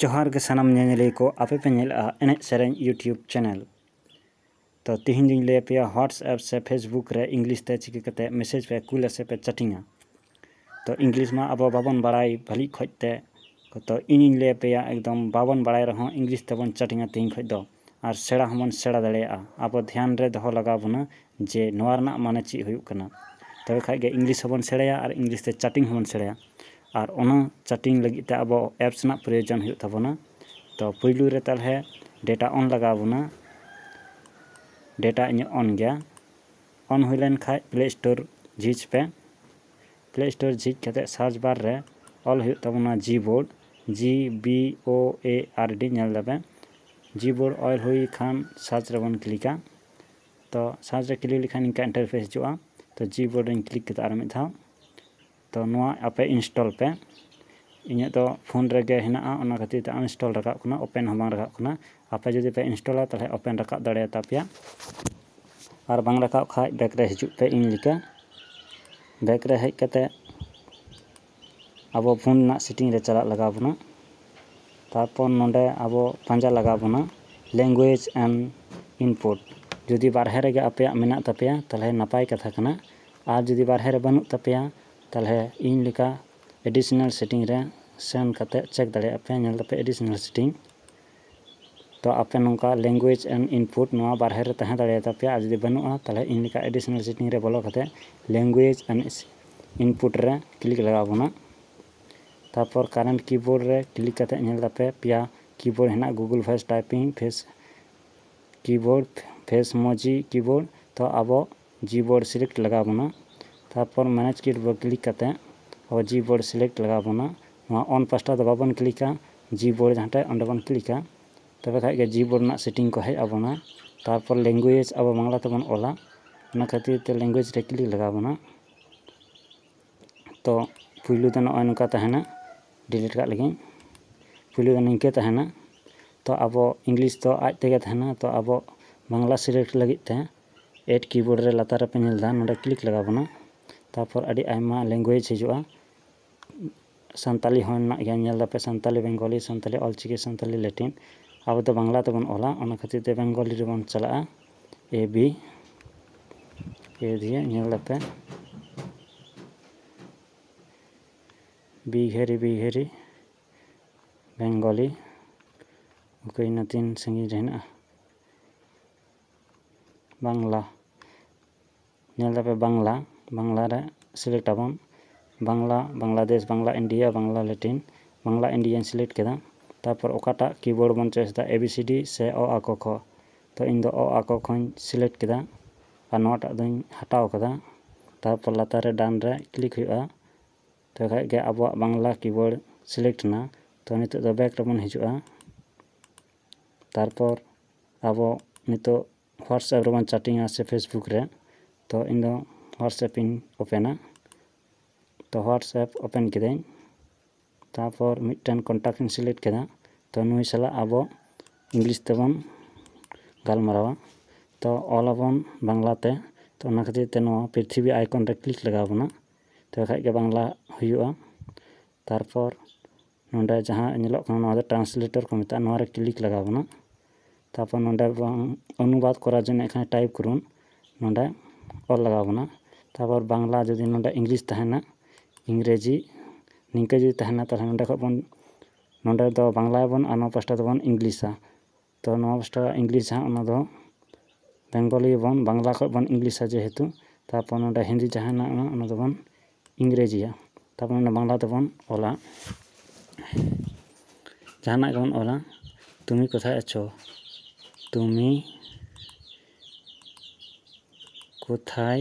ᱡᱚᱦᱟᱨ ᱜᱮ ᱥᱟᱱᱟᱢ ᱧᱮᱧᱮᱞᱤᱭᱟᱹ ᱠᱚ ᱟᱯᱮ ᱯᱮ ᱧᱮᱞᱮᱫᱼᱟ ᱮᱱᱮᱡ ᱥᱮᱨᱮᱧ ᱤᱭᱩᱴᱤᱭᱩᱵᱽ ᱪᱮᱱᱮᱞ ᱛᱚ ᱛᱤᱦᱤᱧ ᱫᱚᱧ ᱞᱟᱹᱭ ᱟᱯᱮᱭᱟ ᱦᱳᱣᱟᱴᱥᱮᱯ ᱥᱮ ᱯᱷᱮᱥᱵᱩᱠ ᱨᱮ ᱤᱝᱞᱤᱥ ᱛᱮ ᱪᱤᱠᱟᱹ ᱠᱟᱛᱮ ᱢᱮᱥᱮᱡᱽ ᱯᱮ ᱠᱩᱞᱟ ᱥᱮ ᱯᱮ ᱪᱟᱴᱤᱝᱟ ᱛᱚ ᱤᱝᱞᱤᱥ ᱢᱟ ᱟᱵᱚ ᱵᱟᱵᱚᱱ ᱵᱟᱲᱟᱭ ᱵᱷᱟᱹᱞᱤ ᱚᱠᱚᱡ ᱛᱮ ᱛᱚ ᱤᱧᱤᱧ ᱞᱟᱹᱭ ᱟᱯᱮᱭᱟ ᱮᱠᱫᱚᱢ ᱵᱟᱵᱚᱱ ᱵᱟᱲᱟᱭ ᱨᱮᱦᱚᱸ ᱤᱝᱞᱤᱥ ᱛᱮᱵᱚᱱ ᱪᱟᱴᱤᱝᱟ ᱛᱤᱦᱤᱧ ᱠᱷᱚᱡ ᱫᱚ ᱟᱨ ᱥᱮᱬᱟ ᱦᱚᱸ ᱵᱚᱱ ᱥᱮᱬᱟ ᱫᱟᱲᱮᱭᱟᱜᱼᱟ ᱟᱵᱚ ᱫᱷᱮᱭᱟᱱ ᱨᱮ ᱫᱚᱦᱚ ᱞᱟᱜᱟᱣ ᱵᱚᱱᱟ ᱡᱮ ᱱᱚᱣᱟ ᱨᱮᱱᱟᱜ ᱢᱟᱱᱮ ᱪᱮᱫ ᱦᱩᱭᱩᱜ ᱠᱟᱱᱟ ᱛᱚᱵᱮ ᱠᱷᱟᱱ ᱜᱮ ᱤᱝᱞᱤᱥ ᱦᱚᱸ ᱵᱚᱱ ᱥᱮᱬᱟᱭᱟ ᱟᱨ ᱤᱝᱞᱤᱥ ᱛᱮ ᱪᱟᱴᱤᱝ ᱦᱚᱸ ᱵᱚᱱ ᱥᱮᱬᱟᱭᱟ ᱟᱨ ᱚᱱᱟ ᱪᱟᱴᱤᱝ ᱞᱟᱹᱜᱤᱫ ᱛᱮ ᱟᱵᱚ ᱮᱯᱥ ᱨᱮᱱᱟᱜ ᱯᱨᱳᱭᱳᱡᱚᱱ ᱦᱩᱭᱩᱜ ᱛᱟᱵᱚᱱᱟ ᱛᱚ ᱯᱩᱭᱞᱩ ᱨᱮ ᱛᱟᱦᱚᱞᱮ ᱰᱮᱴᱟ ᱚᱱ ᱞᱟᱜᱟᱣ ᱵᱚᱱᱟ ᱰᱮᱴᱟ ᱤᱧᱟᱹᱜ ᱚᱱ ᱜᱮᱭᱟ ᱚᱱ ᱦᱩᱭ ᱞᱮᱱ ᱠᱷᱟᱱ ᱯᱞᱮ ᱥᱴᱳᱨ ᱡᱷᱤᱡᱽ ᱯᱮ ᱯᱞᱮ ᱥᱴᱳᱨ ᱡᱷᱤᱡ ᱠᱟᱛᱮ ᱥᱟᱨᱪ ᱵᱟᱨ ᱨᱮ ᱚᱞ ᱦᱩᱭᱩᱜ ᱛᱟᱵᱚᱱᱟ ᱡᱤ ᱵᱳᱨᱰ ᱡᱤ ᱵᱤ ᱳ ᱮ ᱟᱨ ᱰᱤ ᱧᱮᱞ ᱮᱫᱟᱯᱮ ᱡᱤ ᱵᱳᱨᱰ ᱚᱞ ᱦᱩᱭ ᱠᱷᱟᱱ ᱥᱟᱨᱪ ᱨᱮᱵᱚᱱ ᱠᱞᱤᱠᱟ ᱛᱚ ᱥᱟᱨᱪ ᱨᱮ ᱠᱞᱤᱠ ᱞᱮᱠᱷᱟᱱ ᱤᱱᱠᱟ ᱤᱱᱴᱟᱨᱯᱷᱮᱥ ᱦᱤᱡᱩᱜᱼᱟ ᱛᱚ ᱡᱤ ᱵᱳᱨᱰ ᱨᱮᱧ ᱠᱞᱤᱠ ᱠᱮᱫᱟ ᱟᱨ ᱢᱤᱫ ᱫᱷᱟᱣ ᱛᱚ ᱱᱚᱣᱟ ᱟᱯᱮ ᱤᱱᱥᱴᱚᱞ ᱯᱮ ᱤᱧᱟᱹᱜ ᱫᱚ ᱯᱷᱳᱱ ᱨᱮᱜᱮ ᱦᱮᱱᱟᱜᱼᱟ ᱚᱱᱟ ᱠᱷᱟᱹᱛᱤᱨ ᱛᱮ ᱟᱱᱤᱱᱥᱴᱚᱞ ᱨᱟᱠᱟᱵ ᱠᱟᱱᱟ ᱳᱯᱮᱱ ᱦᱚᱸ ᱵᱟᱝ ᱨᱟᱠᱟᱵ ᱠᱟᱱᱟ ᱟᱯᱮ ᱡᱩᱫᱤ ᱯᱮ ᱤᱱᱥᱴᱚᱞᱟ ᱛᱟᱦᱚᱞᱮ ᱳᱯᱮᱱ ᱨᱟᱠᱟᱵ ᱫᱟᱲᱮᱭᱟᱛᱟ ᱯᱮᱭᱟ ᱟᱨ ᱵᱟᱝ ᱨᱟᱠᱟᱵ ᱠᱷᱟᱡ ᱵᱮᱠ ᱨᱮ ᱦᱤᱡᱩᱜ ᱯᱮ ᱤᱧ ᱞᱮᱠᱟ ᱵᱮᱠ ᱨᱮ ᱦᱮᱡ ᱠᱟᱛᱮ ᱟᱵᱚ ᱯᱷᱳᱱ ᱨᱮᱱᱟᱜ ᱥᱮᱴᱤᱝ ᱨᱮ ᱪᱟᱞᱟᱜ ᱞᱟᱜᱟᱣ ᱵᱚᱱᱟ ᱛᱟᱨᱯᱚᱨ ᱱᱚᱰᱮ ᱟᱵᱚ ᱯᱟᱸᱡᱟ ᱞᱟᱜᱟᱣ ᱵᱚᱱᱟ ᱞᱮᱝᱜᱩᱭᱮᱡᱽ ᱮᱱᱰ ᱤᱱᱯᱩᱴ ᱡᱩᱫᱤ ᱵᱟᱨᱦᱮ ᱨᱮᱜᱮ ᱟᱯᱮᱭᱟᱜ ᱢᱮᱱᱟᱜ ᱛᱟᱯᱮᱭᱟ ᱛᱟᱦᱚᱞᱮ ᱱᱟᱯᱟᱭ ᱠᱟᱛᱷᱟ ᱠᱟᱱᱟ ᱟᱨ ᱡᱩᱫᱤ ᱵᱟᱨᱦᱮ ᱨᱮ ᱵᱟᱹᱱᱩᱜ ᱛᱟᱯᱮᱭᱟ ᱛᱟᱦᱚᱞᱮ ᱤᱧ ᱞᱮᱠᱟ ᱮᱰᱤᱥᱚᱱᱟᱞ ᱥᱮᱴᱤᱝ ᱨᱮ ᱥᱮᱱ ᱠᱟᱛᱮ ᱪᱮᱠ ᱫᱟᱲᱮᱭᱟᱜ ᱯᱮ ᱧᱮᱞ ᱫᱟᱯᱮ ᱮᱰᱤᱥᱚᱱᱟᱞ ᱥᱮᱴᱤᱝ ᱛᱚ ᱟᱯᱮ ᱱᱚᱝᱠᱟ ᱞᱮᱝᱜᱩᱭᱮᱡᱽ ᱮᱢ ᱤᱱᱯᱩᱴ ᱱᱚᱣᱟ ᱵᱟᱨᱦᱮ ᱨᱮ ᱛᱟᱦᱮᱸ ᱫᱟᱲᱮᱭᱟ ᱛᱟᱯᱮᱭᱟ ᱟᱨ ᱡᱩᱫᱤ ᱵᱟᱹᱱᱩᱜᱼᱟ ᱛᱟᱦᱚᱞᱮ ᱤᱧ ᱞᱮᱠᱟ ᱮᱰᱤᱥᱚᱱᱟᱞ ᱥᱮᱴᱤᱝ ᱨᱮ ᱵᱚᱞᱚ ᱠᱟᱛᱮ ᱞᱮᱝᱜᱩᱭᱮᱡᱽ ᱮᱱᱰ ᱤᱱᱯᱩᱴ ᱨᱮ ᱠᱞᱤᱠ ᱞᱟᱜᱟᱣ ᱵᱚᱱᱟ ᱛᱟᱨᱯᱚᱨ ᱠᱟᱨᱮᱱᱴ ᱠᱤᱵᱳᱨᱰ ᱨᱮ ᱠᱞᱤᱠ ᱠᱟᱛᱮ ᱧᱮᱞ ᱛᱟᱯᱮ ᱯᱮᱭᱟ ᱠᱤᱵᱳᱨᱰ ᱦᱮᱱᱟᱜᱼᱟ Google voice typing face keyboard Facemoji keyboard ᱛᱚ ᱟᱵᱚ ᱡᱤ ᱵᱳᱨᱰ ᱥᱤᱞᱮᱠᱴ ᱞᱟᱜᱟᱣ ᱵᱚᱱᱟ ᱛᱟᱨᱯᱚᱨ ᱢᱮᱱᱮᱡᱽ ᱠᱤᱴ ᱵᱚ ᱠᱞᱤᱠ ᱠᱟᱛᱮ ᱟᱵᱚ ᱡᱤ ᱵᱳᱨᱰ ᱥᱤᱞᱮᱠᱴ ᱞᱟᱜᱟᱣ ᱵᱚᱱᱟ ᱱᱚᱣᱟ ᱚᱱ ᱯᱟᱥᱴᱟ ᱫᱚ ᱵᱟᱵᱚᱱ ᱠᱞᱤᱠᱟ ᱡᱤ ᱵᱳᱨᱰ ᱡᱟᱦᱟᱸ ᱴᱷᱮᱡ ᱚᱸᱰᱮ ᱵᱚᱱ ᱠᱞᱤᱠᱟ ᱛᱚᱵᱮ ᱠᱷᱟᱡ ᱜᱮ ᱡᱤ ᱵᱳᱨᱰ ᱨᱮᱱᱟᱜ ᱥᱮᱴᱤᱝ ᱠᱚ ᱦᱮᱡ ᱟᱵᱚᱱᱟ ᱛᱟᱨᱯᱚᱨ ᱞᱮᱝᱜᱩᱭᱮᱡᱽ ᱟᱵᱚ ᱵᱟᱝᱞᱟ ᱛᱮᱵᱚᱱ ᱚᱞᱟ ᱚᱱᱟ ᱠᱷᱟᱹᱛᱤᱨ ᱛᱮ ᱞᱮᱝᱜᱩᱭᱮᱡᱽ ᱨᱮ ᱠᱞᱤᱠ ᱞᱟᱜᱟᱣ ᱵᱚᱱᱟ ᱛᱚ ᱯᱩᱭᱞᱩ ᱫᱚ ᱱᱚᱜᱼᱚᱭ ᱱᱚᱝᱠᱟ ᱛᱟᱦᱮᱱᱟ ᱰᱤᱞᱤᱴ ᱠᱟᱜ ᱞᱟᱹᱜᱤᱫ ᱯᱩᱭᱞᱩ ᱫᱚ ᱱᱤᱝᱠᱟᱹ ᱛᱟᱦᱮᱱᱟ ᱛᱚ ᱟᱵᱚ ᱤᱝᱞᱤᱥ ᱫᱚ ᱟᱡ ᱛᱮᱜᱮ ᱛᱟᱦᱮᱱᱟ ᱛᱚ ᱟᱵᱚ ᱵᱟᱝᱞᱟ ᱥᱤᱞᱮᱠᱴ ᱞᱟᱹᱜᱤᱫ ᱛᱮ ᱮᱰ ᱠᱤᱵᱳᱨᱰ ᱨᱮ ᱞᱟᱛᱟᱨ ᱨᱮᱯᱮ ᱧᱮᱞ ᱮᱫᱟ ᱱᱚᱰᱮ ᱠᱞᱤᱠ ᱞᱟᱜᱟᱣ ᱵᱚᱱᱟ ᱛᱟᱨᱯᱚᱨ ᱟᱹᱰᱤ ᱟᱭᱢᱟ ᱞᱮᱝᱜᱩᱭᱮᱡᱽ ᱦᱤᱡᱩᱜᱼᱟ ᱥᱟᱱᱛᱟᱞᱤ ᱦᱚᱸ ᱢᱮᱱᱟᱜ ᱜᱮᱭᱟ ᱧᱮᱞ ᱮᱫᱟᱯᱮ ᱥᱟᱱᱛᱟᱞᱤ ᱵᱮᱝᱜᱚᱞᱤ ᱥᱟᱱᱛᱟᱞᱤ ᱚᱞ ᱪᱤᱠᱤ ᱥᱟᱱᱛᱟᱞᱤ ᱞᱮᱴᱤᱱ ᱟᱵᱚ ᱫᱚ ᱵᱟᱝᱞᱟ ᱛᱮᱵᱚᱱ ᱚᱞᱟ ᱚᱱᱟ ᱠᱷᱟᱹᱛᱤᱨ ᱛᱮ ᱵᱮᱝᱜᱚᱞᱤ ᱨᱮᱵᱚᱱ ᱪᱟᱞᱟᱜᱼᱟ ᱮ ᱵᱤ ᱮ ᱫᱤᱭᱮ ᱧᱮᱞ ᱮᱫᱟᱯᱮ ᱵᱤᱜᱷᱮᱨᱤ ᱵᱤᱜᱷᱮᱨᱤ ᱵᱮᱝᱜᱚᱞᱤ ᱚᱠᱚᱭ ᱤᱱᱟᱹ ᱛᱤᱱ ᱥᱟᱺᱜᱤᱧ ᱨᱮ ᱦᱮᱱᱟᱜᱼᱟ ᱵᱟᱝᱞᱟ ᱧᱮᱞ ᱫᱟᱯᱮ ᱵᱟᱝᱞᱟ ᱵᱟᱝᱞᱟ ᱨᱮ ᱥᱤᱞᱮᱠᱴ ᱟᱵᱚᱱ ᱵᱟᱝᱞᱟ ᱵᱟᱝᱞᱟᱫᱮᱥ ᱵᱟᱝᱞᱟ ᱤᱱᱰᱤᱭᱟ ᱵᱟᱝᱞᱟ ᱞᱮᱴᱤᱱ ᱵᱟᱝᱞᱟ ᱤᱱᱰᱤᱭᱟᱧ ᱥᱤᱞᱮᱠᱴ ᱠᱮᱫᱟ ᱛᱟᱨᱯᱚᱨ ᱚᱠᱟᱴᱟᱜ ᱠᱤᱵᱳᱨᱰ ᱵᱚᱱ ᱪᱚᱭᱮᱥ ᱮᱫᱟ ᱮ ᱵᱤ ᱥᱤ ᱰᱤ ᱥᱮ ᱚ ᱟ ᱠᱚ ᱠᱷ ᱛᱚ ᱤᱧ ᱫᱚ ᱚ ᱟ ᱠᱚ ᱠᱷ ᱤᱧ ᱥᱤᱞᱮᱠᱴ ᱠᱮᱫᱟ ᱟᱨ ᱱᱚᱣᱟᱴᱟᱜ ᱫᱚᱧ ᱦᱟᱴᱟᱣ ᱠᱟᱫᱟ ᱛᱟᱨᱯᱚᱨ ᱞᱟᱛᱟᱨ ᱨᱮ ᱰᱟᱱ ᱨᱮ ᱠᱞᱤᱠ ᱦᱩᱭᱩᱜᱼᱟ ᱛᱚᱵᱮ ᱠᱷᱟᱱ ᱜᱮ ᱟᱵᱚᱣᱟᱜ ᱵᱟᱝᱞᱟ ᱠᱤᱵᱳᱨᱰ ᱥᱤᱞᱮᱠᱴ ᱮᱱᱟ ᱛᱚ ᱱᱤᱛᱚᱜ ᱫᱚ ᱵᱮᱠ ᱨᱮᱵᱚᱱ ᱦᱤᱡᱩᱜᱼᱟ ᱛᱟᱨᱯᱚᱨ ᱟᱵᱚ ᱱᱤᱛᱚᱜ ᱦᱳᱣᱟᱴᱥᱮᱯ ᱨᱮᱵᱚᱱ ᱪᱟᱴᱤᱝᱼᱟ ᱥᱮ ᱯᱷᱮᱥᱵᱩᱠ ᱨᱮ ᱛᱚ ᱤᱧ ᱫᱚ ᱦᱳᱣᱟᱴᱥᱮᱯ ᱤᱧ ᱳᱯᱮᱱᱟ ᱛᱚ ᱦᱳᱣᱟᱴᱥᱮᱯ ᱳᱯᱮᱱ ᱠᱤᱫᱟᱹᱧ ᱛᱟᱨᱯᱚᱨ ᱢᱤᱫᱴᱮᱱ ᱠᱚᱱᱴᱟᱠᱴ ᱤᱧ ᱥᱤᱞᱮᱠᱴ ᱠᱮᱫᱟ ᱛᱚ ᱱᱩᱭ ᱥᱟᱞᱟᱜ ᱟᱵᱚ ᱤᱝᱞᱤᱥ ᱛᱮᱵᱚᱱ ᱜᱟᱞᱢᱟᱨᱟᱣᱟ ᱛᱚ ᱚᱞ ᱟᱵᱚᱱ ᱵᱟᱝᱞᱟ ᱛᱮ ᱛᱚ ᱚᱱᱟ ᱠᱷᱟᱹᱛᱤᱨ ᱛᱮ ᱱᱚᱣᱟ ᱯᱨᱤᱛᱷᱤᱵᱤ ᱟᱭᱠᱚᱱ ᱨᱮ ᱠᱞᱤᱠ ᱞᱟᱜᱟᱣ ᱵᱚᱱᱟ ᱛᱚᱵᱮ ᱠᱷᱟᱱ ᱜᱮ ᱵᱟᱝᱞᱟ ᱦᱩᱭᱩᱜᱼᱟ ᱛᱟᱨᱯᱚᱨ ᱱᱚᱸᱰᱮ ᱡᱟᱦᱟᱸ ᱧᱮᱞᱚᱜ ᱠᱟᱱᱟ ᱱᱚᱣᱟ ᱫᱚ ᱴᱨᱟᱱᱥᱞᱮᱴᱚᱨ ᱠᱚ ᱢᱮᱛᱟᱜᱼᱟ ᱱᱚᱣᱟ ᱨᱮ ᱠᱞᱤᱠ ᱞᱟᱜᱟᱣ ᱵᱚᱱᱟ ᱛᱟᱯᱚᱨ ᱱᱚᱸᱰᱮ ᱵᱟᱝ ᱚᱱᱩᱵᱟᱫᱽ ᱠᱚᱨᱟᱣ ᱡᱚᱱᱚ ᱮᱠᱷᱟᱱ ᱴᱟᱭᱤᱯ ᱠᱚᱨᱩᱱ ᱱᱚᱸᱰᱮ ᱚᱞ ᱞᱟᱜᱟᱣ ᱵᱚᱱᱟ ᱛᱟᱯᱚᱨ ᱵᱟᱝᱞᱟ ᱡᱩᱫᱤ ᱱᱚᱸᱰᱮ ᱤᱝᱞᱤᱥ ᱛᱟᱦᱮᱱᱟ ᱤᱝᱨᱮᱡᱤ ᱱᱤᱝᱠᱟᱹ ᱡᱩᱫᱤ ᱛᱟᱦᱮᱱᱟ ᱛᱟᱦᱚᱞᱮ ᱱᱚᱸᱰᱮ ᱠᱷᱚᱱ ᱵᱚᱱ ᱱᱚᱸᱰᱮ ᱫᱚ ᱵᱟᱝᱞᱟᱭᱟᱵᱚᱱ ᱟᱨ ᱱᱚᱣᱟ ᱯᱟᱥᱴᱟ ᱫᱚᱵᱚᱱ ᱤᱝᱞᱤᱥᱟ ᱛᱚ ᱱᱚᱣᱟ ᱯᱟᱥᱴᱟ ᱤᱝᱞᱤᱥ ᱡᱟᱦᱟᱸ ᱚᱱᱟ ᱫᱚ ᱵᱮᱝᱜᱚᱞᱤ ᱵᱚᱱ ᱵᱟᱝᱞᱟ ᱠᱷᱚᱱ ᱵᱚᱱ ᱤᱝᱞᱤᱥᱟ ᱡᱮᱦᱮᱛᱩ ᱛᱟᱨᱯᱚᱨ ᱱᱚᱸᱰᱮ ᱦᱤᱱᱫᱤ ᱡᱟᱦᱟᱸ ᱦᱮᱱᱟᱜᱼᱟ ᱚᱱᱟ ᱫᱚᱵᱚᱱ ᱤᱝᱨᱮᱡᱤᱭᱟ ᱛᱟᱨᱯᱚᱨ ᱚᱱᱟ ᱵᱟᱝᱞᱟ ᱛᱮᱵᱚᱱ ᱚᱞᱟ ᱡᱟᱦᱟᱱᱟᱜ ᱜᱮᱵᱚᱱ ᱚᱞᱟ ᱛᱩᱢᱤ ᱠᱚᱛᱷᱟᱭ ᱟᱪᱷᱳ ᱛᱩᱢᱤ ᱠᱚᱛᱷᱟᱭ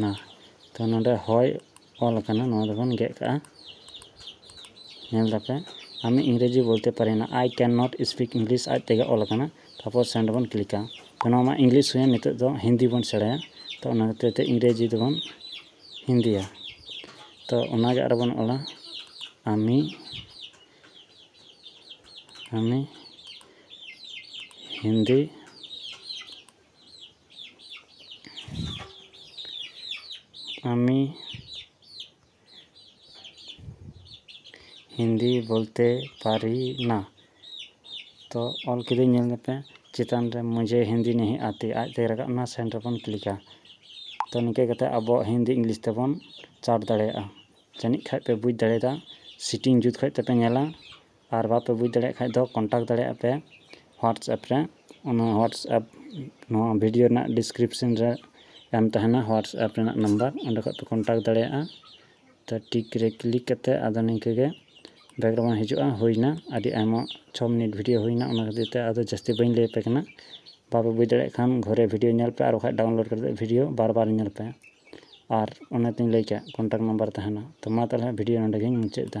ᱱᱟ ᱛᱚ ᱱᱚᱰᱮ ᱦᱚᱭ ᱚᱞ ᱟᱠᱟᱱᱟ ᱱᱚᱣᱟ ᱫᱚᱵᱚᱱ ᱜᱮᱫ ᱠᱟᱜᱼᱟ ᱧᱮᱞ ᱫᱟᱯᱮ ᱟᱢᱤ ᱤᱝᱨᱮᱡᱤ ᱵᱚᱞᱛᱮ ᱯᱟᱨᱮ ᱱᱟ I can not speak English ᱟᱡ ᱛᱮᱜᱮ ᱚᱞ ᱟᱠᱟᱱᱟ ᱛᱟᱨᱯᱚᱨ ᱥᱮᱱᱰ ᱵᱚᱱ ᱠᱞᱤᱠᱟ ᱛᱚ ᱱᱚᱣᱟ ᱢᱟ ᱤᱝᱞᱤᱥ ᱦᱩᱭᱮᱱ ᱱᱤᱛᱚᱜ ᱫᱚ ᱦᱤᱱᱫᱤ ᱵᱚᱱ ᱥᱮᱬᱟᱭᱟ ᱛᱚ ᱚᱱᱟ ᱠᱷᱟᱹᱛᱤᱨ ᱛᱮ ᱤᱝᱨᱮᱡᱤ ᱫᱚᱵᱚᱱ ᱦᱤᱱᱫᱤᱭᱟ ᱛᱚ ᱚᱱᱟᱜᱮ ᱟᱨᱚ ᱵᱚᱱ ᱚᱞᱟ ᱟᱢᱤ ᱩᱱᱤ ᱦᱤᱱᱫᱤ ᱟᱹᱢᱤ ᱦᱤᱱᱫᱤ ᱵᱚᱞᱛᱮ ᱯᱟᱨᱤᱱᱟ ᱛᱚ ᱚᱞ ᱠᱤᱫᱟᱹᱧ ᱧᱮᱞ ᱞᱮᱯᱮ ᱪᱮᱛᱟᱱ ᱨᱮ ᱢᱩᱡᱮ ᱦᱤᱱᱫᱤ ᱱᱤᱦᱤ ᱟᱛᱤ ᱟᱡ ᱛᱮᱜᱮ ᱨᱟᱠᱟᱵ ᱮᱱᱟ ᱥᱮᱱᱰ ᱨᱮᱵᱚᱱ ᱠᱞᱤᱠᱟ ᱛᱚ ᱱᱤᱝᱠᱟᱹ ᱠᱟᱛᱮ ᱟᱵᱚ ᱦᱤᱱᱫᱤ ᱤᱝᱞᱤᱥ ᱛᱮᱵᱚᱱ ᱪᱟᱴ ᱫᱟᱲᱮᱭᱟᱜᱼᱟ ᱡᱟᱹᱱᱤᱡ ᱠᱷᱟᱱ ᱯᱮ ᱵᱩᱡᱽ ᱫᱟᱲᱮᱭᱟᱫᱟ ᱥᱤᱴᱤᱝ ᱡᱩᱛ ᱠᱷᱚᱱ ᱛᱮᱯᱮ ᱧᱮᱞᱟ ᱟᱨ ᱵᱟᱯᱮ ᱵᱩᱡᱽ ᱫᱟᱲᱮᱭᱟᱜ ᱠᱷᱟᱱ ᱫᱚ ᱠᱚᱱᱴᱟᱠᱴ ᱫᱟᱲᱮᱭᱟᱜᱼᱟ ᱯᱮ ᱦᱳᱣᱟᱴᱥᱮᱯ ᱨᱮ ᱚᱱᱟ ᱦᱳᱣᱟᱴᱥᱮᱯ ᱱᱚᱣᱟ ᱵᱷᱤᱰᱤᱭᱳ ᱨᱮᱱᱟᱜ ᱰᱤᱥᱠᱨᱤᱯᱥᱮᱱ ᱨᱮ ᱮᱢ ᱛᱟᱦᱮᱱᱟ ᱦᱳᱣᱟᱴᱥᱮᱯ ᱨᱮᱱᱟᱜ ᱱᱟᱢᱵᱟᱨ ᱚᱸᱰᱮ ᱠᱷᱚᱱ ᱯᱮ ᱠᱚᱱᱴᱟᱠᱴ ᱫᱟᱲᱮᱭᱟᱜᱼᱟ ᱛᱚ ᱴᱤᱠ ᱨᱮ ᱠᱞᱤᱠ ᱠᱟᱛᱮᱫ ᱟᱫᱚ ᱱᱤᱝᱠᱟᱹ ᱜᱮ ᱵᱮᱠᱜᱨᱟᱣᱩᱱᱰ ᱦᱤᱡᱩᱜᱼᱟ ᱦᱩᱭᱱᱟ ᱟᱹᱰᱤ ᱟᱭᱢᱟ ᱪᱷᱚ ᱢᱤᱱᱤᱴ ᱵᱷᱤᱰᱤᱭᱳ ᱦᱩᱭᱱᱟ ᱚᱱᱟ ᱠᱷᱟᱹᱛᱤᱨ ᱛᱮ ᱟᱫᱚ ᱡᱟᱹᱥᱛᱤ ᱵᱟᱹᱧ ᱞᱟᱹᱭ ᱟᱯᱮ ᱠᱟᱱᱟ ᱵᱟᱯᱮ ᱵᱩᱡᱽ ᱫᱟᱲᱮᱭᱟᱜ ᱠᱷᱟᱱ ᱜᱷᱩᱨᱮ ᱵᱷᱤᱰᱤᱭᱳ ᱧᱮᱞ ᱯᱮ ᱟᱨ ᱵᱟᱠᱷᱟᱱ ᱰᱟᱣᱩᱱᱞᱳᱰ ᱠᱟᱛᱮᱫ ᱵᱷᱤᱰᱤᱭᱳ ᱵᱟᱨ ᱵᱟᱨ ᱧᱮᱞ ᱯᱮ ᱟᱨ ᱚᱱᱮ ᱛᱚᱧ ᱞᱟᱹᱭ ᱠᱮᱫ ᱠᱚᱱᱴᱟᱠ ᱱᱟᱢᱵᱟᱨ ᱛᱟᱦᱮᱱᱟ ᱛᱚ ᱢᱟ ᱛᱟᱦᱚᱞᱮ ᱵᱷᱤᱰᱭᱳ ᱱᱚᱰᱮ ᱜᱤᱧ ᱢᱩᱪᱟᱹᱫ ᱮᱫᱟ